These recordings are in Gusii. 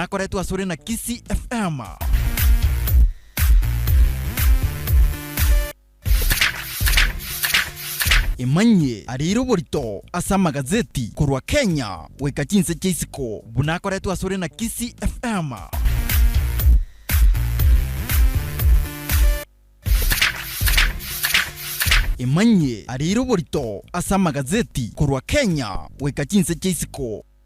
Nakoretwe asore na Kisii FM. Imanyie arire oborito ase amagazeti korwa Kenya goika chinse chia isiko buna akoretwe asore na Kisii FM. Imanyie arire oborito ase amagazeti korwa Kenya goika chinse chia isiko.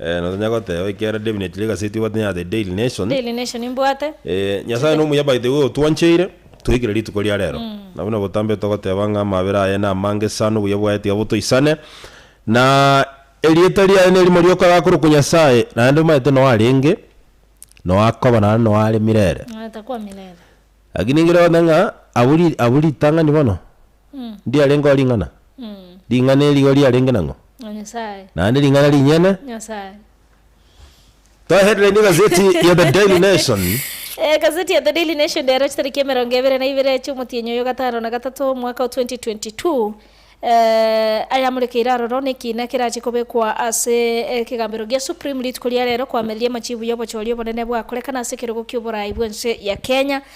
Ee, na tonyare goteba ekiagera definitely egaseti obwate ya The Daily Nation. Daily Nation mbwate. Ee, Nyasaye nomuya by the way otwancheire toigire rituko ria rero. Na buna botambe togoteba ng'a amabera aye namange sana obuya bwaye tiga botoisane. Na erieta riaye nerimo rioka gakorokwa Nyasaye naende omanyete noyo arenge, noyo akoba naende noyo are mirere. Noyo takwa mirere. Lakini ngire goteba ng'a abwo ri abwo ritang'ani bono. Ndiarengeo ring'ana? Ring'ana eri igo riarenge nang'o? Naende ring'ana rinyene? To headline egazeti ya The Daily Nation. Egazeti ya The Daily Nation ndero chitariki emerongo ebere na ibere chi'omotienyi oyo gatano na gatato omwaka o 2022, ayamorekeire aroro nekiina kerache kobekwa ase ekegambero gia Supreme rituko ria rero koameriria amachibu y'obochori obonene bwakorekana ase ekerogo ki'oborai bw'ense ya Kenya.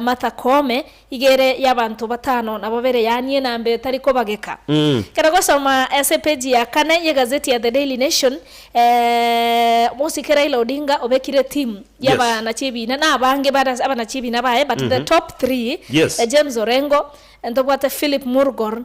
Martha Koome, iga ere y'abanto batano na babere yaanie namba etari kobageka. Kera gosoma ase epeji ya kane y'egazeti ya The Daily Nation, Mosike Raila Odinga obekire timu y'abanachi ebiina na abange bare ase abanachi ebiina baye but the top three, James Orengo, ntobwate Philip Murgor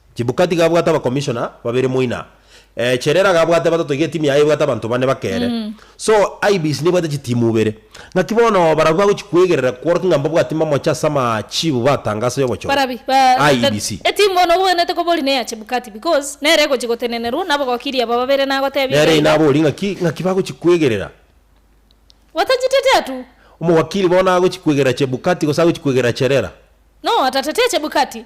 Chibukati gabwate abakomishona babere moina. Eh, Cherera gabwate batato iga etimu yaye ebwate abanto bane baka ere. So, IEBC nebwate chitimu ibere. Ng'aki bono barabwo bagochi kwegerera kworokia ng'a mbabwati mamoche ase amachiibu batanga ase obochore? Barabi, ba, da, da, IEBC. etimu bono obwenerete koba ori neya Chebukati because nere egochi gotenenerwa nabogokiri aba babere nagotebia Nere iga iga. inabori ng'aki, ng'aki bagochi kwegerera. Otachetetie atu. Omowakiri bono agochi kwegerera Chebukati gose agochi kwegerera Cherera? No, otatetie Chebukati.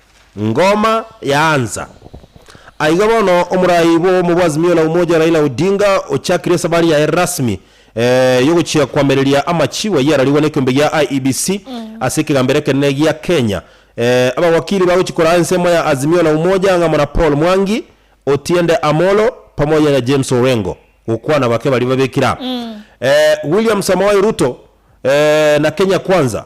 Ngoma yaansa. Aiga bono omorai bw'obomo bwa Azimio la Umoja Raila Odinga ochakire esabari yaye rasmi eh, yogochia koamereria amachibo ayio ararigwe nekeombe gia IEBC ase ekegambero ekenene gia Kenya. Eh, abawakili bagochia koraa ensemo ya Azimio la Umoja ang'amo na Paul Mwangi, Otiende Amolo pamoja na James Orengo gokwana bake baria babekire aa. Eh, William Samoei Ruto eh, na Kenya Kwanza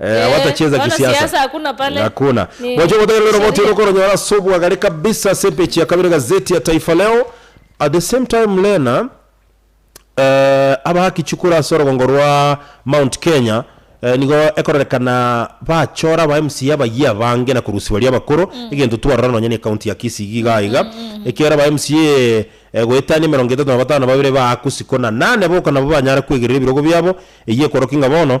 Eh, hawatacheza Wana kisiasa. siasa hakuna pale. Hakuna. Ni- Mwache kutegerera ni roboti sheria. roko ronyora sobu agare kabisa ase page ya kabere gazeti ya Taifa Leo. At the same time Lena eh, abahaki chukura ase orogongo rwa Mount Kenya eh, nigo ekororekana bachora aba MCA abayia abange na korusia baria abakoro egento twarora nonya ne county ya Kisii iga iga iga ekiagera aba MCA eh, goetania emerongo etato na batano babere baakwa isiko na nane boka nabo banyare kwegerera ebirogo biabo eyio ekoroki ng'a bono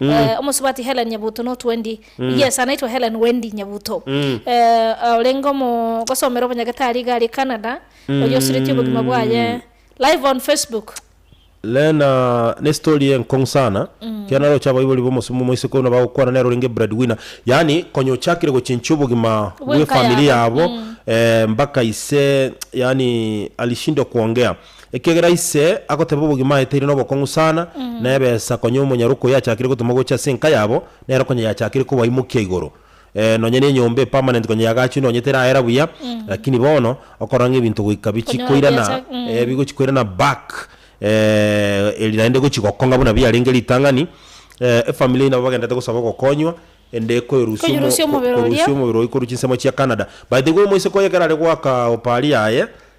Mm. eh, omosubati Helen Nyabuto notwendi Mm. yes anaitwa Helen Wendy Nyabuto Mm. eh, ah, orenge omo gosomera obonyagetari iga ari Canada Mm. oyo osireti obogima bwaye live on Facebook lena ne story enkong'u sana Mm. kera naroche abaibori bomosumu moisiko buna bagokwana nero orenge breadwinner yaani konya ochakire gochinchia obogima Bw'enka bw'efamili yabo. yabo Mm. eh, mpaka ise yaani alishindwa kuongea Ekiagera ise agoteba obogima aeteire nobokong'u sana, na ebesa konya omonyara okoyia achakire gotumwa gocha ase enka yabo, nero konya yachakire kobaimokia igoro. Ee, nonya n'enyomba epermanent konya yagachwe nonya teraera buya, lakini bono okorora ng'a ebinto goika bichi Konya koirana, obiacha, mm. ee, bigochi koirana back, ee, eri naende egochi gokong'a buna biarenge ritang'ani, ee, efamily eyio nabo bagendererete gosaba ogokonywa, ende koerusia omo Koerusia omobere oria. korusia omobere oyio korwa chinsemo chia Canada. But igo omoiseke oyo ekero are goaka opari yaye.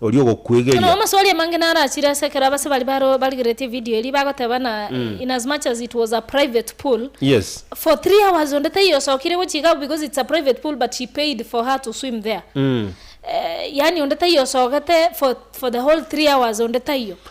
Oria ogokwegeria. Amaswali amange naro achire ase ekero abase baria baro barigeretie evidio eria bagoteba ng'a in as much as it was a private pool, Yes. for three hours onde taiyo osokire gochia iga because it's a private pool but she paid for her to swim there. Eh, yaani onde taiyo osogete for for the whole three hours onde taiyo.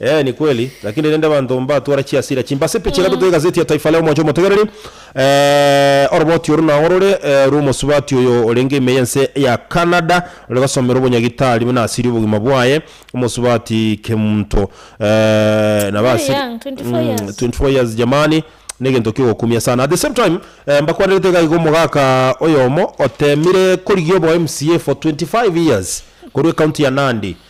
Ee, ni kweli. Lakini rende abanto mbatware chiasira chimbasipi chiria totoigasetie etaifa ria omochie omotegereri. Ee, oroboti oru nao rore rw'omosubati oyo orenge ime y'ense ya Canada, ore gosomera obonyagitari buna asirie obogima bwaye, omosubati kemonto. Ee, nabo Very asirie. young, 24 Mm, years. 24 years, jamani, negento kiogokumia sana. At the same time, eh, mbakwanerete iga iga omogaka oyomo otemire korigia obo MCA for 25 years korwa ecounty ya Nandi,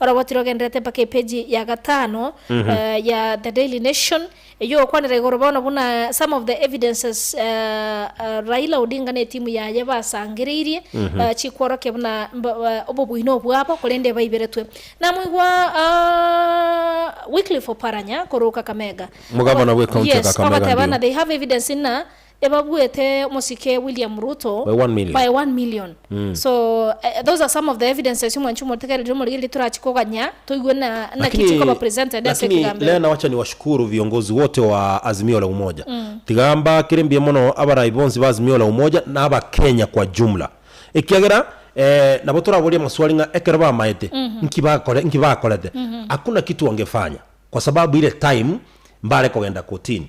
Oroboti rogendererete mpaka epeji ya gatano ya The Daily Nation, eyio ogokwanera igoro bono buna some of the evidences Raila Odinga na etimu yaye basangereirie chikworokia buna obobuino obwabo korende baiberetwe. Namoigwa Wycliffe Oparanya korwa Kakamega. Omogabana bw'ecounty ya Kakamega, ndio. Ogoteba buna they have evidence buna Ebabuete omosike William Ruto By one million. by one million so eh, those are some of the evidences omwancho omotegereri omorigi erio torache koganya toigwe na naki Lakini, chikoba presented ase lakini ekegambo ere. Lena wacha niwashukuru viongozi wote wa Azimio la Umoja. Tiga mbakire mbuya mono abarai bonsi ba Azimio la Umoja na Abakenya kwa jumla. Ekiagera eh, nabo toraborie amaswali ng'a ekero bamaete nki bakore, nki bakorete? Hakuna kitu wangefanya kwa sababu ile time mbare kogenda kotini.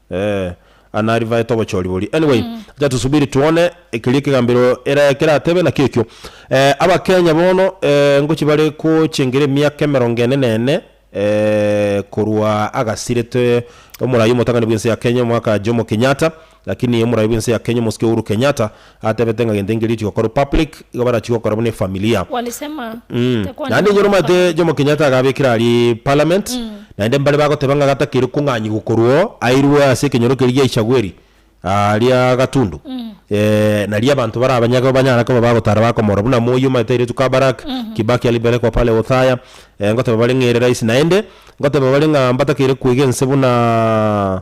Ee, aa nari baete obochori boria. Anyway, acha tusubiri tuone keria ekegambero era keratebe naki ekio. Eh, Abakenya bono, eh, ngochi bare gochengera emiaka emerongo ene na ene, eh, korwa agasirete omorai omotang'ani bw'ense ya Kenya omwaka Jomo Kenyatta, lakini omorai bw'ense ya Kenya omosike Uhuru Kenyatta, Atebete ng'a gento nkeria chigokorwa public, igo barachigokora buna efamilia. Walisema Mmh. tekwana Naende enyoroma ase Mwanyasae. Jomo Kenyatta agabekire aria Parliament, naende mbare bagoteba ng'a gatakeire kong'anyi gokorwa oo, airwe ase ekenyoro keria gia Ichagweri aria Gatundu. Eeh, naria abanto bare abanyageu banyare koba bagotara bakomorora buna Moi omanyete airetwe Kabarak, Kibaki alibelekwa pale Othaya, eeh, ngoteba bare ng'ere rais naende, ngoteba bare ng'a mbatakeire kwega ense buna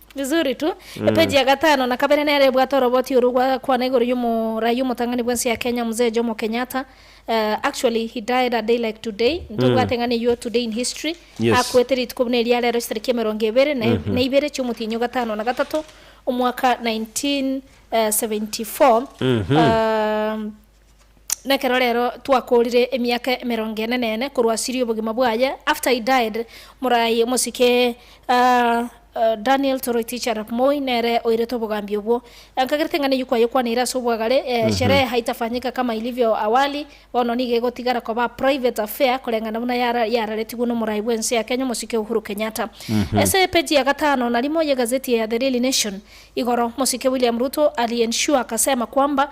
Vizuri tu. Epeji ya gatano na kabere nere ebwate oroboti oru gwa kwana igoro y'omoraia omotang'ani bw'ense ya Kenya Mzee Jomo Kenyatta. Eh, actually he died a day like today. Ntobwate ng'ana eyio today in history. Yes. Akwete rituko buna eria rero chitariki emerongo ebere na e- na ibere chi'omotienyi o gatano na gatato omwaka 1974. Um, Nekero rero twakoorire emiaka emerongo ene na ene korwa asiri obogima bwaye after he died morai omosike Daniel Toroitich Arap Moi nere oirete obogambi obwo. Nkagerete eng'ana eyio kwayekwaneire ase obwagare, sherehe haitafanyika kama ilivyo awali, bono nigo egotigara koba private affair koreng'ana buna yara yararetigwe nomorai bwense ya Kenya omosike Uhuru Kenyatta. Ase epeji ya gatano na rimo yegazeti ya The Daily Nation igoro, mosike William Ruto ali ensure akasema kwamba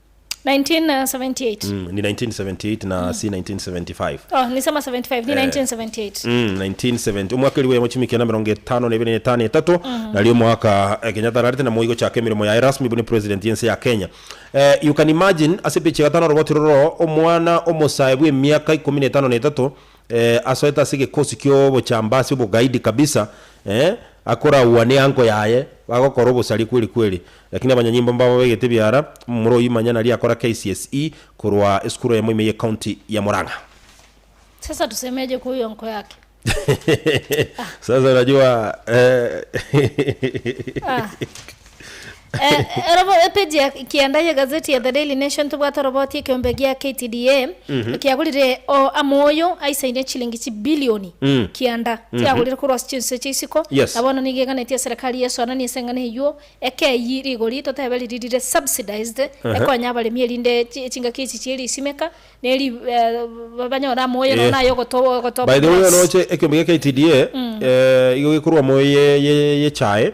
1978. Mm, ni 1978 na si 1975 Oh, nisema 75, ni Eh. 1978. Mm, 1970 omwaka eliwo yamo chimia ekiana mirongo etano na ibere na etano etato nario omwaka eh, kenyatta ararete namo igochaka emeremo yaye rasmi buna president yense ya kenya eh, you can imagine ase epechi ya gatano oroboti roro omwana omosae bw'emiaka ikomi na etano na etato Eeh asoete ase egekosi ki'obochambasi obogaidi kabisa, eeh akoraua ne anko yaye, bagokora obosaria kweri kweri. Lakini abanyanyimbo mbabo begete ebiara, omomura oyio manya nari akora KCSE korwa esukuru eyemo ime y'ecounty ya Murang'a. Sasa tusemeje kwa huyo anko yake. Sasa unajua eeh. Ah. Eh, ero bo- epeji ya kianda ye gazeti ya The Daily Nation tobwate oroboti ekeombe gia KTDA ekiagorire o amoyo aisaine chilingi chibilioni Mm. kianda tiagorire korwa ase chinsu echi isiko Yes. na bono nigo eganetie eserekari yesoananie ase eng'ana eywo eke eyi rigori totebe riri rire subsidized ekonya abaremi erinde chi- chingaki echi chie risimeka neri eh, ba- banyore amoyo nonya Yes. naye ogotoba ogotoba by the way gloves. onoche ekeombe gia KTDA eh, igo gekorwa moyo ye- ye- yechae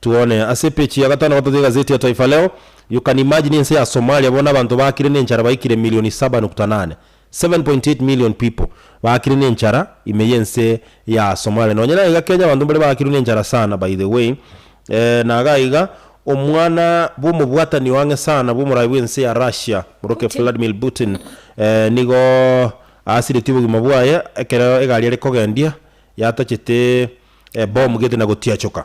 Tuone ase epechi ya gatano gatatu y'egazeti ya Taifa Leo, You can imagine ense ya Somalia bono abanto baakire nenchara baikire milioni saba nukta nane, 7.8 million people, baakire nenchara ime y'ense ya Somalia. Nonye naiga Kenya abanto mbaria baakirwe nenchara sana by the way, eeh nagaiga omwana bw'omobwatani oang'e sana bw'omorai bw'ense ya Russia morokia Vladimir Putin eeh nigo aasiretie obogima bwaye ekero egari are kogendia yatachete bomu gete na gotiachoka.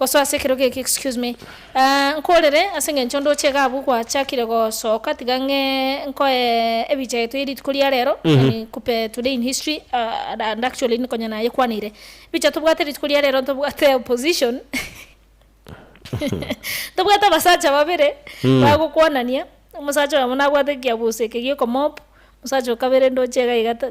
Gosoa ase ekerogo eke excuse me aah nkorere ase engencho onde oche iga abwo gwachakire gosoka tiga ng'e nkoe ebicha etwe ye rituko ria rero yani kupe today in history aah and actually ni konya naye kwaneire ebicha tobwate rituko ria rero ntobwate opposition ntobwate abasacha babere bagokwanania omosacha oyomo nabwate ekiabuso eke giokomob omosacha okabere ndoche iga iga ta.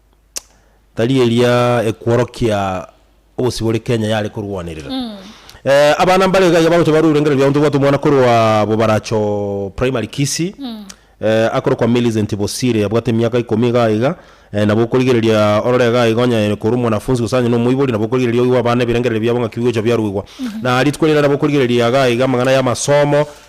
Tari eria ekworokia ogosibore Kenya yare korwanerera. Abana mbare iga iga bagocha barwa ebirengererio biabo ntobwate omwana korwa Bobaracho Primary Kisii, akorokwa Millicent Bosire abwate emiaka ikomi iga iga, nabo okorigereria orore iga iga onye korwa omwanafunzi gose onye nomoibori nabo okorigereria oigwe abana ebirengererio biabo ng'aki bigocha biaruigwa. Na rituko riria nabo okorigereria iga iga amang'ana y'amasomo,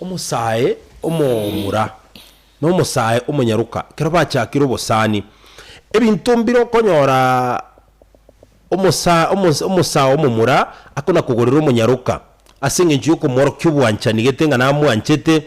Omosae omomura na omosae omonyaroka ekero bachakire obosani, ebinto mbire okonyora omosae omo omosae omomura akona kogorera omonyaroka ase engencho y'okomworokia obwanchani gete ng'a namwanchete,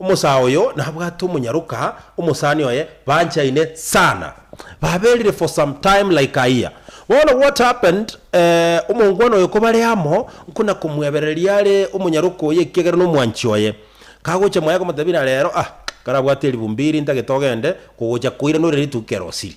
Omosaa oyo nabwate omonyaroka, omosani oye banchaine sana. Baberire for some time like a year. Bono what happened eh, omongwana oyo kobare amo nkona komwebereria are omonyaroka oye ekiagera nomwanchi oye. Kagocha mwaye komotebia na rero ah, karabwate eribumbi eri ntagete ogende kogocha koira nore rituko kerosiri.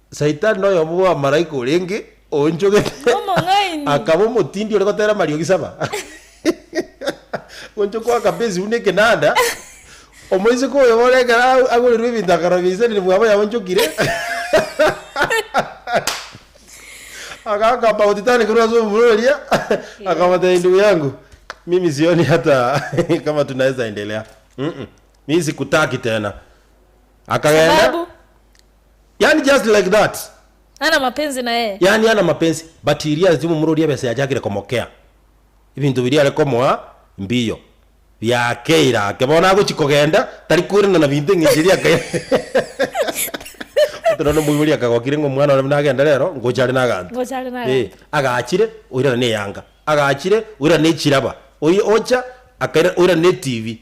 Saitani noyomo bw'abamalaika orenge oonchogete, Nomong'aini. akaba omotindi ore gotera amariogi saba. Gochia goaka pi esibuni ekenanda, omoiseke oyomo ore ekero a- agorirwe ebinto akarobia isani rimwabo yaonchokire, agaaka about tani korwa ase omura oria, akamotebia, Ndugu yangu, mimi sioni hata kama tunaeza endelea. Mm-mm. Mi sikutaki tena. Akagenda. Sababu Yani just like that. Ana mapenzi na yeye. Yani ana mapenzi. But he realized omomura oria ebesa yachakire komokea. Ebinto biria are komoa mbiyo biakeire ake. Bono agochi kogenda tari kwerana na binto eng'encho eria akairana. Ote nonye omoibori akagokire ng'a omwana one buna agende rero ngocha are naganto. Ngocha are naganto. Ee. Agachire oirana na eyanga. Agachire oirana na echiraba. Oye ocha akairana oirana na etibi.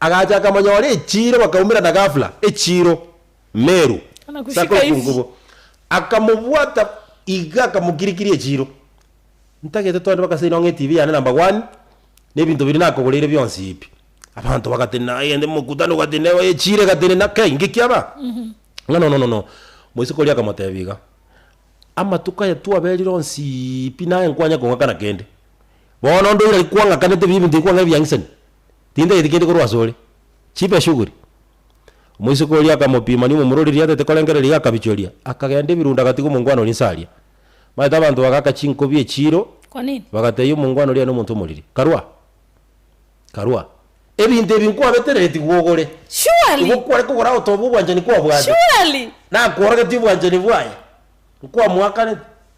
Agacha akamonyora echiiro bakaumerana gafla echiiro meru ase akoro kw'enkubo. Akamobwata iga akamokirikiria echiiro. Ntagete toende mpaka ase inong'o etibi yane na mbagwani na ebinto biria nakogoreire bionsi ebi. Abanto bagatenena aye ende mokutano ogatenena oye echiiro egatenena kei inki kiaba? Ng'a nono nono. Moiseke oria akamotebia iga, Amatuko aya twaberire onsi pi naye nkwanye kong'akana kende. Bono onde oira rikwang'akanete bibi ntirikwan'gana ebiang'isani. tintageti kende korwa asore, chipe eshuguri. Omoiseke oria akamopima, nigo momura oria riatete korengereria iga akabichoria, akagenda ebirunda gati g'omongwana oria inse aria. Maete abanto bagaaka chinkobi echiiro, bagatebia omongwana oria nomonto omoriri, Karua! Karua! Ebinto ebi nkwabetereretie gwogore, nigo kware kogora agotoba obwanchani kwabwate, nakworogeti obwanchani bwaye, nkwamoakaneti.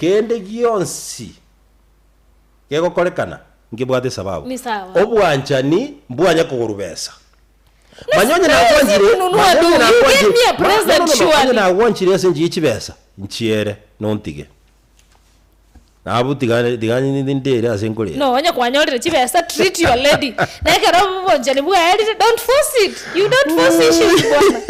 Kende gionsi gegokorekana nkebwate sababu. Ni sawa. Obwanchani mbwanya kogorwa besa. Manya onye nagwanchire, manya onye nagwanchire, onye nagwanchire ase enchia y'echibesa, nchiere, na ontige. Nabu tiga tiga ndere ase nkorera. Nonya kwanyorire chibesa, treat your lady. Na ekero obwanchani bwaerire, don't force it. You don't force issues bwana.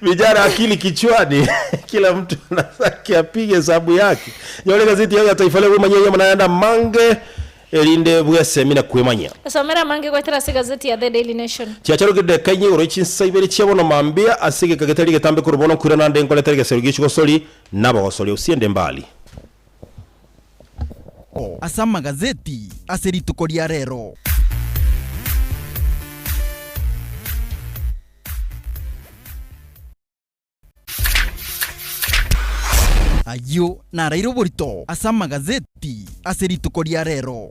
Vijana akili kichwani, kila mtu ana zake. Kiapiga esabu yake. Nyora egazeti yao ya Taifa Leo bwemanyie enyama naende amange erinde bwesemi na kwemanyia. Somera amange goetera ase egazeti ya The Daily Nation. Chiacharokire daika inye igoro y'chinsa ibere chia bono mambia ase egeka getari getambe korwa bono nkwirana nde nkoretera egesero gi'echigosori na abagosori usie nde Mbali. Ase amagazeti ase rituko ria rero. Ayio naraire oborito ase amagazeti ase rituko ria rero.